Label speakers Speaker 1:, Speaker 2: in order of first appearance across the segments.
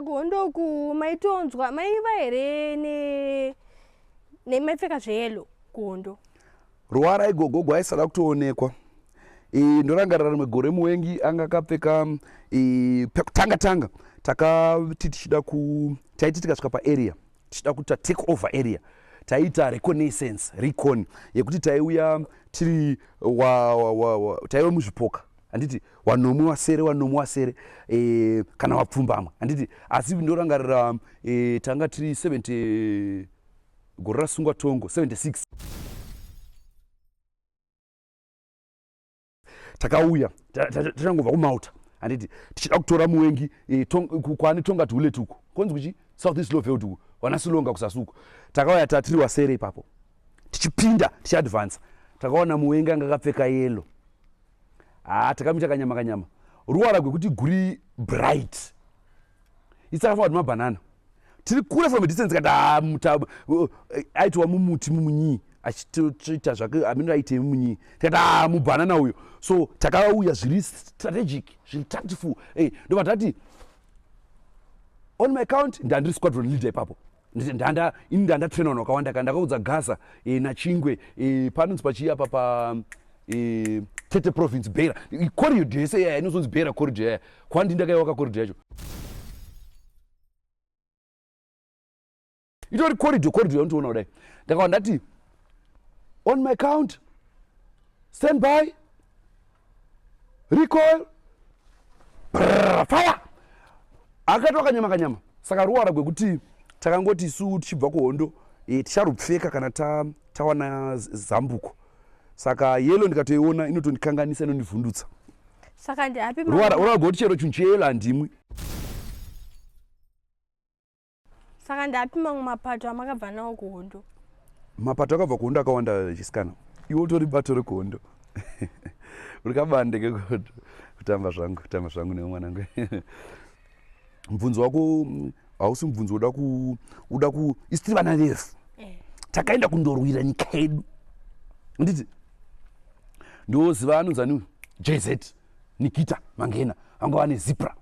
Speaker 1: sagondoku maitonzwa maiva here ne nemaipfeka zveyelo gondo ruvara
Speaker 2: igogo gwaisada kutoonekwa ndorangarira rimwe gore muwengi anga akapfeka pekutanga tanga takati tichida ku taiti tikasvika paarea tichida kuita take over area taiita reconnaissance recon yekuti taiuya tiri taiva muzvipoka handiti wanomwe wasere wanomwe wasere e, kana wapfumbamwe handiti asi ndorangarira e, tanga tiri 70 gore rasungwa tongo 76 takauya tachangobva kumauta handiti tichida kutora muwengi eh, kwani tonga tiuleti uko konzi kuchi south east loveld uko wana silonga kusasuko takauya tatiri wasere ipapo tichipinda tichiadvansa takaona muwengi anga akapfeka yelo haa ah, takamita kanyama kanyama ruwara gwekuti guri bright itsaka forward mabhanana tiri kure from a distance kati ah, muta uh, aitiwa mumuti mumunyii achitoita zvake amene aite munyii tikati ah, mubhanana uyo so takauya zviri strategic zviri tactful ndobva tati on my count ndandiri squadron leader ipapo ndithi ndanda ini ndanda trainer no kawanda kanda kaudza gaza e, eh, na chingwe e, eh, panonzi pachiya pa pa e, eh, tete province bera corridor yese yaya inozonzi bera corridor yaya kwandi ndakaiwaka corridor yacho itori corridor corridor yaunotiona kudai ndakawa ndati on my count stand by recoil Brrr, fire akatoa kanyama kanyama saka ruwara gwekuti takangoti isu tichibva kuhondo e, ticharupfeka kana ta, tawana z- zambuko saka yelo ndikatoiona inotondikanganisa inondivhundutsa saka
Speaker 1: ndiapi ruwara ruwara gwekuti chero chunhu
Speaker 2: cheyelo handimwi
Speaker 1: saka ndapi mamwe mapato amakabva nawo kuhondo mapato
Speaker 2: akabva kuhondo akawanda chisikana iwe utori bato rekuhondo rikabande kekuhondo kutamba zvangu kutamba zvangu newe mwanangu mubvunzo wako hausi mubvunzo uda ku uda ku isitiri vana vese eh. takaenda kundorwira nyika yedu nditi ndiwoziva anonzani jz nikita mangena vanga vane zipra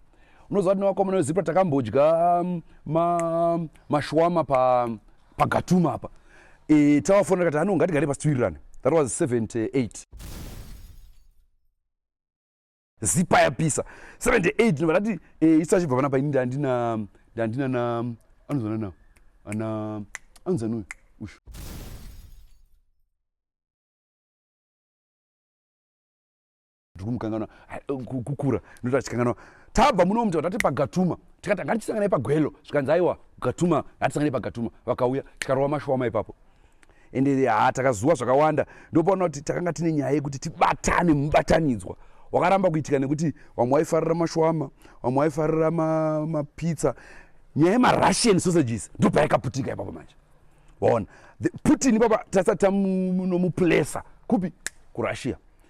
Speaker 2: unoziva kuti nevakomana vezipra takambodya um, ma, mashwama pa, pagatuma apa e, tavafonera kati ano ngatigare pasitiwirirane that was 78 zipa yapisa 78 nobadati e, isu achibva panapa ini ndandina ndandina na anozana na ana anozana uyu ushu ndiri kumukanganwa kukura ndoti achikanganwa tabva muno mti vatati pagatuma tikati anga tichisanganai pagwelo zvikanzi aiwa gatuma hatisanganai pagatuma vakauya tikarova mashoma ipapo ende ha takazuwa zvakawanda ndopaona kuti takanga tine nyaya yekuti tibatane mubatanidzwa wakaramba kuitika nekuti vamwe waifarira mashwama vamwe waifarira mapitsa ma nyaya yemarussian sausages ndopaikaputika ipapo manje waona putin ipapa tasati tamunomuplesa kupi kurussia